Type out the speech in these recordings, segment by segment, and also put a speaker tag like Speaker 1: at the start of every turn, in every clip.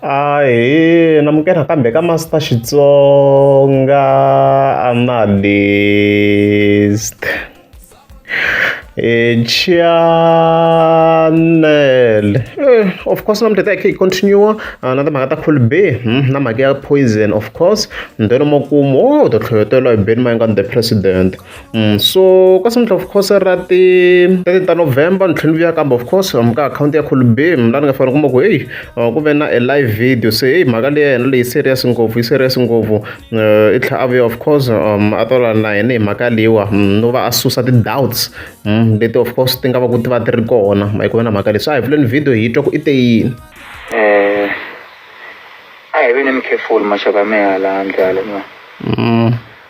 Speaker 1: Ahe na muke nakambe ka Master Xitsonga analyst e channel eh, of course na mutata yakhe continue ah, na timhaka ta cool b hmm, na mhaka ya poison of course ntwelo makumu wo oh, u to tlhoyotela hi beni mayingani the president So ka seventh of course ra ti ra ti ta November ni tlhela ni vuya kambe of course lomu ka akhawunti ya Kholibeni laha ni nga fanele u kuma ku heyi ku ve na e live video se heyi mhaka leyi ya hina leyi serious ngopfu yi serious ngopfu i tlhela a vuya of course a ta lwa na hina hi mhaka leyiwa no va a susa ti-doubts leti of course ti nga va ku ti va ti ri kona ma yi ku ve na mhaka leyi so a hi pfuleni video hi twa ku i te yini
Speaker 2: a hi ve ni mi careful maxaka ya mehe hala handle hala ma.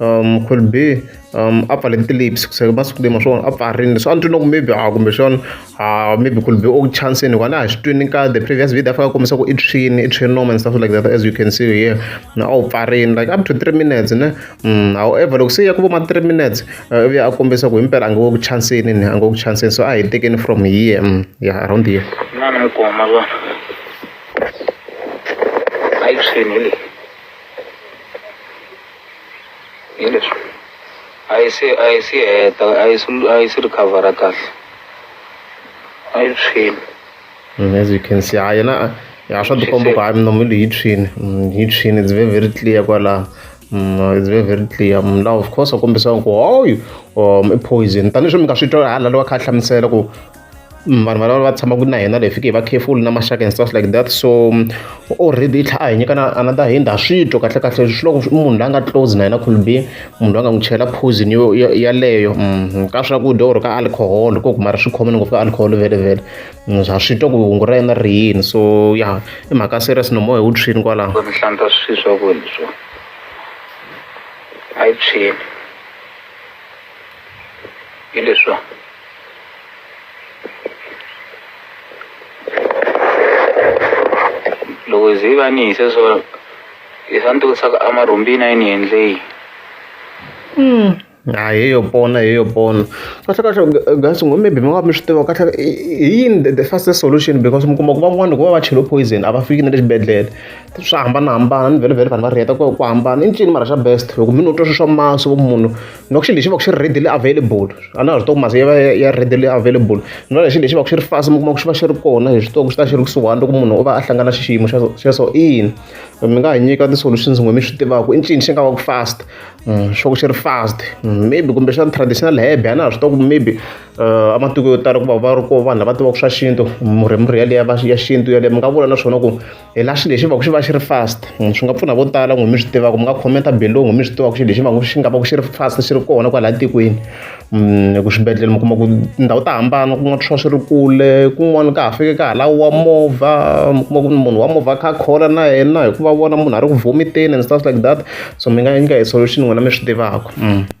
Speaker 1: um could be um a pfale ti-lips kuseka masiku lama swona a pfarini leswi a ni twi loko maybe a kumbexana a maybe could be o chansini hikuva na ha swi twini ka the previous video a fika a kombisa ku i tshwini i tshwini noma and stuff like that as you can see here na a wu pfarini like up to three minutes ne mm, however loko se ya ku voma three minutes uh, ivi a kombisa ku himpela a nge wo ku chansini ni a nge wo ku chansini so a hi tekeni from here mm, ya yeah, around here
Speaker 2: Hi leswi a yi se a yi se heta a yi se a yi se recover-a
Speaker 1: kahle a yi tshwile Mm, as you can see ha yena a- ya swa tikomba ku hayi minomo leyi yi tshwini Mm, yi tshwini it's very very clear kwalaho Mm, it's very very clear Mm, laha of course a kombisaka ku hoyu um i poison tanihileswi mi nga swi twa hala lowa kha a hlamusela ku vanhu valava va tshamaka na hina leyi fike hi vakhefulu na maxaka and stuff like that so already yi tlhela a hi nyika na another hand ha swi twa kahle kahle swi loko munhu loyi a nga close na yena could be munhu loyi a nga n'wi chela poison yo yaleyo ka swakudya or ka alcohol ko kuma ri swi khomile ngopfu ka alcohol vele vele ha swi twa ku hungu ra yena ri yini so ya i mhaka serious no moya wu tshwini kwalaho mi hlantswa swi
Speaker 2: swakudya swo a yi tshwini hi leswiwa loko hi ze va ni hise so hi swa ni tivutisaka a marhumbini a yi ni endleyi
Speaker 1: a hi yo pona hi yo pona kahle kahle guys ngo maybe mi nga mi swi tiva kahle i i yini the- the fastest solution because mi kuma ku van'wana loko va va chelo poison a va fiki na le xibedhlele swa hambanahambana ni vhele vhele vanhu va riheta ku ku hambana i ncini mara xa best loko mi no twa swi swa maso munhu loko xilo lexi va ku xi ri readily available a na ha swi tiva ku masi ya va ya readily available ni va lexi lexi va ku xi ri fast mi kuma ku xi va xi ri kona hi swi tiva ku xi ta xi ri kusuhani loko munhu u va a hlangana xi xiyimo xexo ina mi nga ha nyika ti-solutions n'we mi swi tivaka i ncini xi nga va ku fast mm, xo ku xi ri fast mm, maybe kumbe xana traditional hebe a na ha swi tiva ku maybe eh, ematiko yo tala ku va va ri ko vanhu lava tivaka swa xintu murhi murhi yaleyo ya xintu yaleyo mi nga vula na swona ku hi la xilo lexi va ku xi va xi ri fast hmm, swi nga pfuna vo tala n'wi mi swi tivaka mi nga khomenta belongo mi swi tivaka xilo lexi va ku xi nga va ku xi ri fast xi ri kona kwala tikweni hmm, hi ku swibedhlele mi kuma ku tindhawu ta hambana kun'wana swi va swi ri kule kun'wana ka ha fike ka hala wa movha mi kuma ku munhu wa movha kha khola na yena hikuva vona munhu a ri ku vomiteni and stuff like that so mi nga nyika hi solution n'wina mi swi tivaka hmm.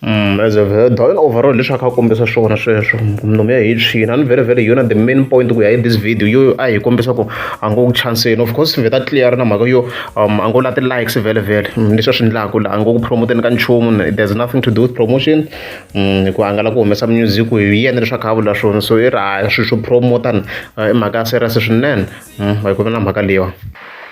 Speaker 1: Don overall leswi a kha a kombisa swona sweswo nomu ya hi a ni very very hi yona the main point ku ya hi this video yo a hi kombisa ku a ngo chanseni of course ve ta clear na mhaka yo um a ngo la ti-likes vhele vhele leswi a swi endlaku la a ngo ku promoteni ka nchumu there's nothing to do with promotion ku a nga la ku humesa music hi yena leswi a kha a vula swona so i ri a swi swo promota i mhaka ya serious swinene hi ku ve na mhaka leyiwa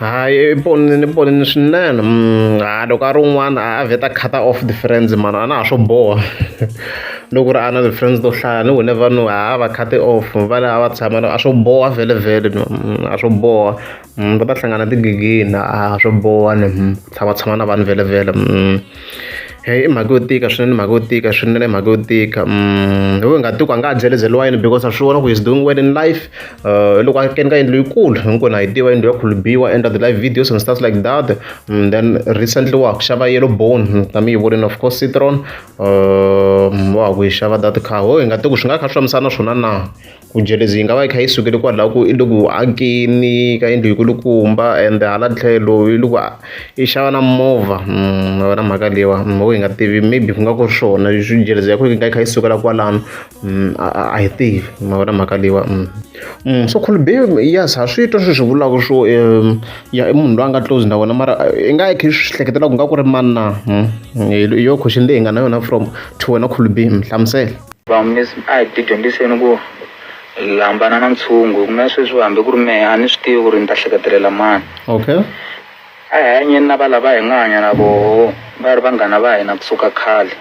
Speaker 1: hayi ponini ponini swinene mm, ha loko a ri un'wana a vheta cut off the friends mani a na ha swo boha loko ri a na ti-friends to hlaya ni whenever no ha va cut off va le a va tshama a swo boha vhele vhele no mm, a swo boha mm, va ta hlangana tigigini a swo boha ni tshama tshama na vanhu vhele vhele Heyi i mhaka yo tika swinene mhaka yo tika swinene i mhaka yo tika hi wehe nghatikulu a nga ha byelebyeriwa yini because a swi vona ku he's doing well in life loko a kene ka yindlu yikulu hinkwenu ha yi tiva yindlu ya khulubiwa and the live videos and stuff like that then recently wa ha ku xava yellow bone na mi yi vonile of course citron wa ha ku yi xava that car ho hi nga tiku swi nga kha swi fambisana na swona na Ku jealousy yi nga va yi kha yi sukele kwalaho ku i le ku akeni ka yindlu yi kulukumba and hala tlhelo yi le ku i xava na movha ma vona mhaka leyiwa mhaka hi nga tivi maybe ku nga ku ri swona leswi jealousy ya ku yi nga yi kha yi sukela kwalano a hi tivi ma vona mhaka leyiwa so Colbe yes ha swi twa sweswi vulaka swo ya i munhu loyi a nga close na wena mara i nga yi kha yi swi hleketela ku nga ku ri mani na hi yona question leyi hi nga na yona from to wena Colbe hlamusela. Vamisi, a hi
Speaker 2: tidyondziseni ku hambana na ntshungu, hikuva na sweswi hambi ku ri mehe a ni swi tivi ku ri ni ta hleketelela mani. Okay.
Speaker 1: A hi
Speaker 2: hanyeni na valava hi nga hanya na voho va ri vanghana va hina ku suka khale.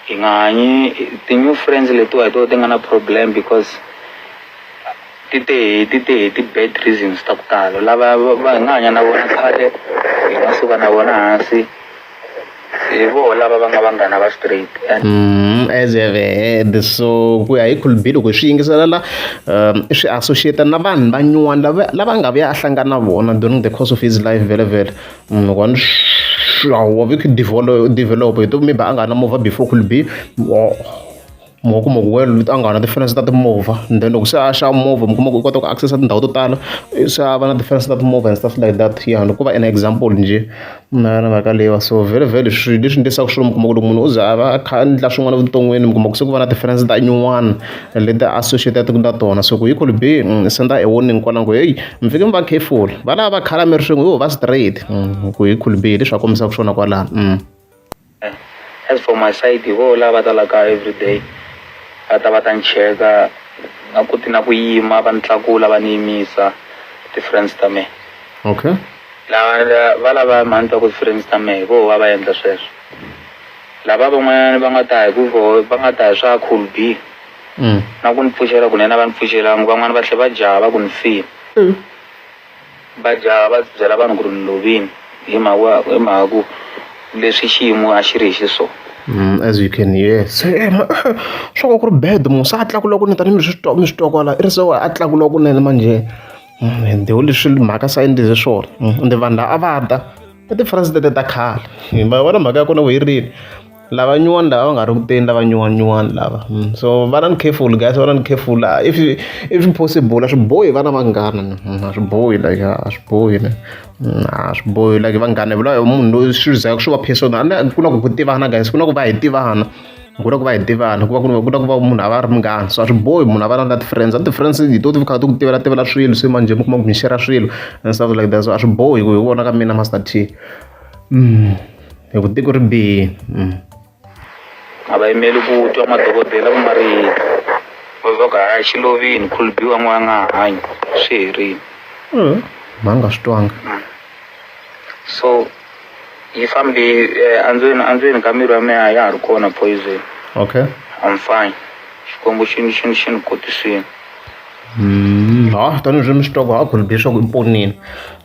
Speaker 2: Hi nga hanyi ti new friends letiwa hi toho ti nga na problem because ti te hi ti te hi ti bad reasons ta ku tala lava va hi nga hanya na vona khale hi nga suka na vona hansi. hi voho lava va nga vanghana va straight and Mm, as
Speaker 1: you have heard so ku ya hi khulubili ku hi swi yingisela la um, swi associate na vanhu van'wana lava lava nga vuya a hlangana na vona during the course of his life vele vele Mm, loko a ni swa wa vi ku develop develop hi to maybe a nga na movha before khulubili mi nga kuma ku wena leti a nga na ti-fence ta timovha and then loko se a xava movha mi kuma ku u kota ku access-a tindhawu to tala se a va na ti-fence ta timovha and stuff like that ya ni ku va an example njhe na na mhaka leyi wa so vhele vhele swilo leswi endlisaka swilo mi kuma ku loko munhu u ze a va a kha a endla swin'wana evuton'wini mi kuma ku se ku va na ti-fence ta nyuwana leti associate-aka na tona so ku equal be ni send-a e warning kwala ni ku heyi mi fanekele mi va careful valava va khala mi ri swin'we yo va straight ku equal be hi leswi va kombisaka swona kwalano.
Speaker 2: As for my side hi voho lava va ta la kaya everyday va ta va ta ni cheka na ku ti na ku yima va ni tlakula va ni yimisa ti-friends ta mehe okay
Speaker 1: lava
Speaker 2: va lava mhani ta ku ti-friends ta mehe hi voho va va endla sweswo lava van'wanyana va nga ta hi ku voho va nga ta hi swa cool b na ku ni pfuxela kunene a va ni pfuxelangi van'wani va tlhe va java ku ni file Majaha va byela vanhu ku ri ni lovini hi mhaka hi mhaka ku leswi xiyimo a xi ri hi xiswona. As you can
Speaker 1: hear se swa ku ku ri bad munhu se a tlakula kunene tanihi mi swi twa mi swi twa kwala i ri se wa a tlakula kunene manjhe ende hi leswi mhaka se a endlise swona ende vanhu lava a va ta i ti-president ta khale hi ma vona mhaka ya kona ku yi rini. Lava nyuwani lava va nga ri kuteni lava nyuwani nyuwani lava so va na ni careful guys va na ni careful la if if possible a swi bohi vana vanghana a swi bohi like a swi bohi ne a swi bohi like vanghana hi vula hi munhu loyi swi za swi va personal a ni ku na ku ku tivana guys ku na ku va hi tivana ku na ku va hi tivana ku va ku ku na ku va munhu a va a ri munghana so a swi bohi munhu a va na na ti-friends a ni ti-friends hi to ti kha ti ku tivela tivela swilo se manjhe mi kuma ku mi share-ra swilo and stuff like that so a swi bohi ku hi vona ka mina Master T. hi ku tiko ri bihe
Speaker 2: a va yimeli ku twa madokodela ku nga ri yini va va ku haya xi lovini khulubiwa n'wana a nga ha hanyi swi herile ma nga swi
Speaker 1: twanga
Speaker 2: so yi fambe andzweni andzweni ka miri wa mina a ya ha ri kona poison okay
Speaker 1: I'm fine
Speaker 2: xikwembu xi ni xi ni xi ni kotisile. ha
Speaker 1: tanihi swi mi swi twa ku ha khulu be swa ku i ponile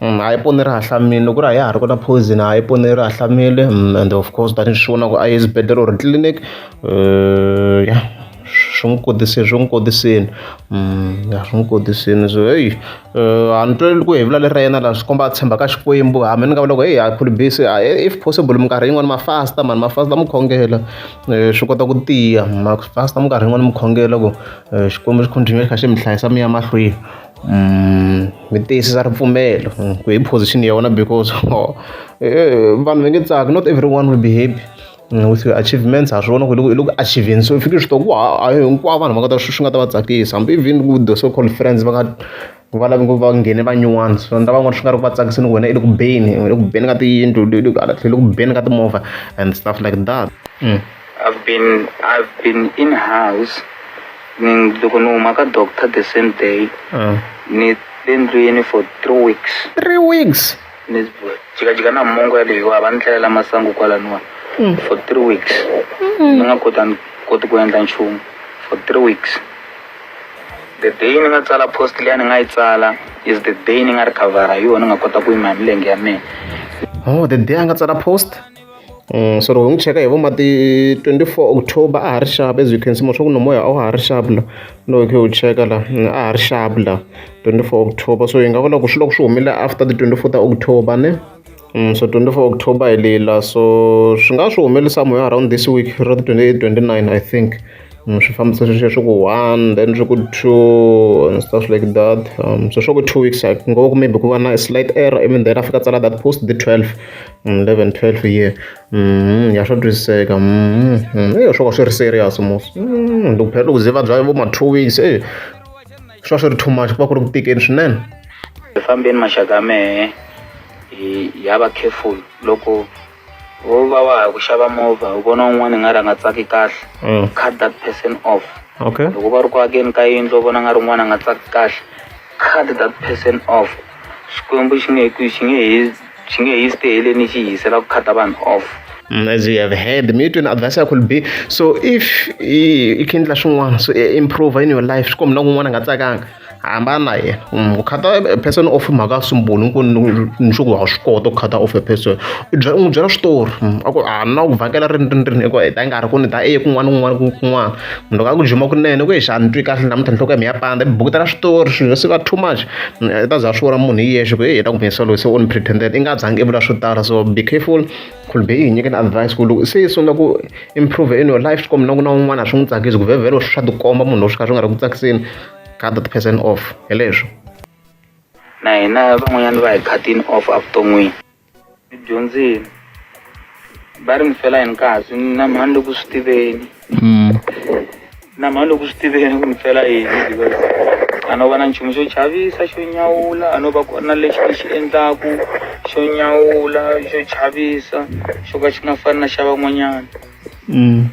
Speaker 1: ha i ponile ra ha hlamile loko ku ri a ya ha ri kona poison ha i ponile ra ha hlamile and of course tanihi swi vona ku a yi eswibedhlele or tliliniki ya swi n'wi kodisile swi n'wi kodisile ya swi n'wi kodisile so heyi a ni twe ku hevula leri ra yena la swi komba a tshemba ka Xikwembu ha me ni nga vula ku heyi ha khulu be se if possible minkarhi yin'wani ma fasta mhani ma fasta mi khongela swi kota ku tiya ma fasta minkarhi yin'wani mi khongela ku. Xikwembu xi continuer xi kha xi mi hlayisa mi ya mahlweni mi tiyisisa ripfumelo ku hi position ya wena because vanhu va nge tsaki not everyone will be happy with your achievements ha swi vona ku hi le ku hi le ku achiever-eni se u fike u swi tiva ku a hi hinkwavo vanhu va nga ta swi nga ta va tsakisa hambi even ku the so called friends va nga. ku va lava va nghene va nyuwana swi endla van'wana swi nga ri ku va tsakiseni ku wena i le ku beni u le ku beni ka tiyindlu u le hala tlhelo ku beni ka timovha and stuff like that i've been
Speaker 2: i've been in house ni loko ni huma ka doctor the same day ni le ndlwini for three weeks three weeks
Speaker 1: ni
Speaker 2: jikajika na mongo yaleyo a va ni tlhelela masangu kwalaniwa for three weeks ni nga koti ku endla nchumu for three weeks. the day ni nga tsala post leyi ni nga yi tsala is the day ni nga recover-a hi yona ni nga kota ku yima hi milenge ya mina oh the
Speaker 1: day a nga tsala post um so loko hi n'wi cheka hi vo mati 24 october a ha ri xapu as you can see moswaku nomoya a wa ha ri xapu la loko khe u cheka la mm, a ha ri xapu la 24 october so hi nga vula ku swi loko swi humile after the 24 ta october ne So 24 October hi leyi la so swi nga swi humelisa moya around this week ro ti 28 29 I think mm, swi fambisa sweswi swi ku one then swi ku two and stuff like that um, so swi ku two weeks I ngo ku maybe ku va na slight error even then afika tsala that post the 12 mm, 11 12 year mm, ya swa twisiseka mm, mm, eyo swo ka swi ri serious mos mm, ndikuphela ku ze va bya vo ma two weeks eh, swa swi ri too much ku va ku ri ku tikeni swinene hi fambeni
Speaker 2: maxaka mehe hi ya va careful loko wo va wa ha ku xava movha u vona un'wana hi nga ri a nga tsaki kahle mm. cut that person off okay loko va ri ku
Speaker 1: akeni
Speaker 2: ka yindlu u vona nga ri un'wana a nga tsaki kahle cut that person off xikwembu xi nge ku xi nge hi xi nge hi stay leni xi yisela ku khata vanhu off mm, as you have
Speaker 1: heard mi tweni advice yakho libi so if i khe endla swin'wana so e, improve in your life swi kombi na kun'wana nga tsakanga hambana na yena mm, ku khata e, person off i mhaka ya sumbulu nku ni swi ku wa swi kota ku khata off a person u n'wi byela switori mm, a ku a na ku vhakela rini rini rini eku heta nkarhi ku ni ta eye kun'wana kun'wana kun'wana munhu ka ku juma kunene ku ye xa ni twi kahle namuntlha nhloko ya mi ya pandza mi bukutela switori swilo swi va too much i ta za swi vona munhu hi yexe ku ye ta ku mesa loyi se u ni pretended i nga zangi i vula swo tala so be careful khulu be i hi nyikeni advice ku loko se i sungula ku improve in your life swi kombi na ku na un'wana a swi n'wi tsakisi ku vhevhelo swi swa tikomba munhu loyi swi kha swi nga ri ku tsakiseni cut that person off hi leswo
Speaker 2: na hina van'wanyana va hi cutini off evuton'wini dyondzile va ri mi fela hi nkasi na mhani loku swi tiveni mm. na mhani loku swi tiveni ku mi fela yini because a no va na nchumu xo chavisa xo nyawula a no va kona lexi ni xi endlaku xo nyawula xo chavisa xo ka xi nga fani na xa van'wanyana mm.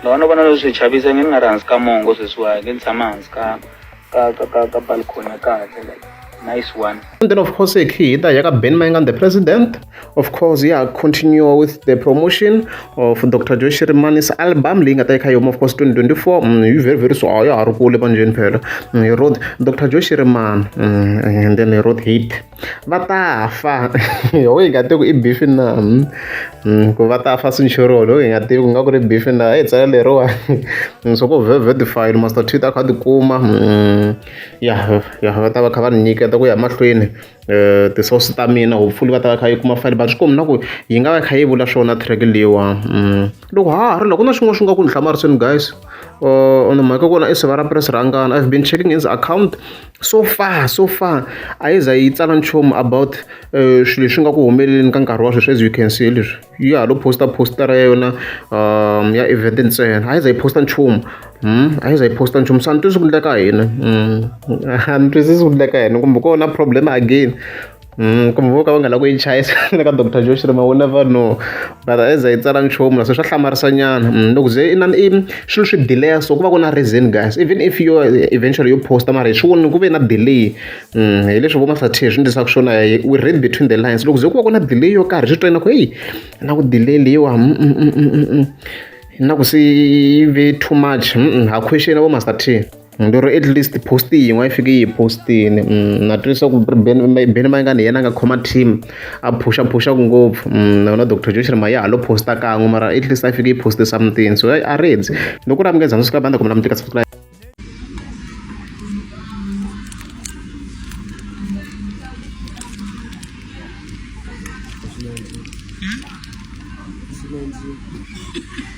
Speaker 2: loko a no va na leswi swi chavisa nge ni nga ri hansi ka mongo sweswiwa nge ni tshama hansi ka ka ka ka ka balcony ya kahle like nice one and then of course e
Speaker 1: khida ya ka ben mayengan the president of course ya continue with the promotion of dr joy shirimani's album leyi nga ta yi kha yoma of course 2024 mm, yi very very so a ya ha ri kule manjeni phela mm, yi wrote dr joy shiriman mm, and then yi wrote hit va ta fa ho yi nga tivi ku i bifi na hmm, ku va ta fa sinchorolo ho yi nga tivi ku nga ku ri bifi na e tsela leriwa so ku vevetified master twitter a kha ti kuma hmm, ya ya va ta va kha va ni nyiketa ku ya mahlweni um tisource ta mina hopefully va ta va kha yi kuma file but swi komi na ku yi nga va kha yi vula swona track leyiwa hmm. loko ha ha ri loko na xin'wana xi nga ku ni hlamarisweni guys uh, on mhaka kona i siva ra press rangana i've been checking his account so far so far a yi za yi tsala nchumu about eh, swilo leswi nga ku humeleleni ka nkarhi wa sweswi as you can see leswi yi ya ha lo posta postara ya yona um ya event ntsena a yi za yi posta nchumu hmm? a yi za yi posta nchumu so a ni twisisi ku endla ka hina hmm. a ni twisisi ku endla ka hina kumbe ku na problem again Mm, kumbe vo ka va nga la ku yi chayisa le ka dr josh rima u never know but as a yi tsala nchumu se swa hlamarisa nyana mm, loko ze i swilo swi delaya so ku va ku na reason guys even if yo eventually yo posta mara hi swi voni ku ve na delay mm, hi leswi vo masathe hi swi ndlisaka swona we read between the lines loko ze ku va ku na delay yo karhi swi twena ku heyi na ku delay leyiwa mm, na ku se yi ve too much ha question vo masathe Ni ri at least post yin'we a yi fike yi hi post-ini na twa leswaku beni beni mayingani hi yena a nga khoma team a phusha phuxaka ngopfu na yona doctor joshua ma ya ha lo post-a kan'we mara at least a yi fike yi post-e something so a ri dzi ni ku ri a mi nge zangi subscribe a ni ta kumela mi tika subscribe Thank you.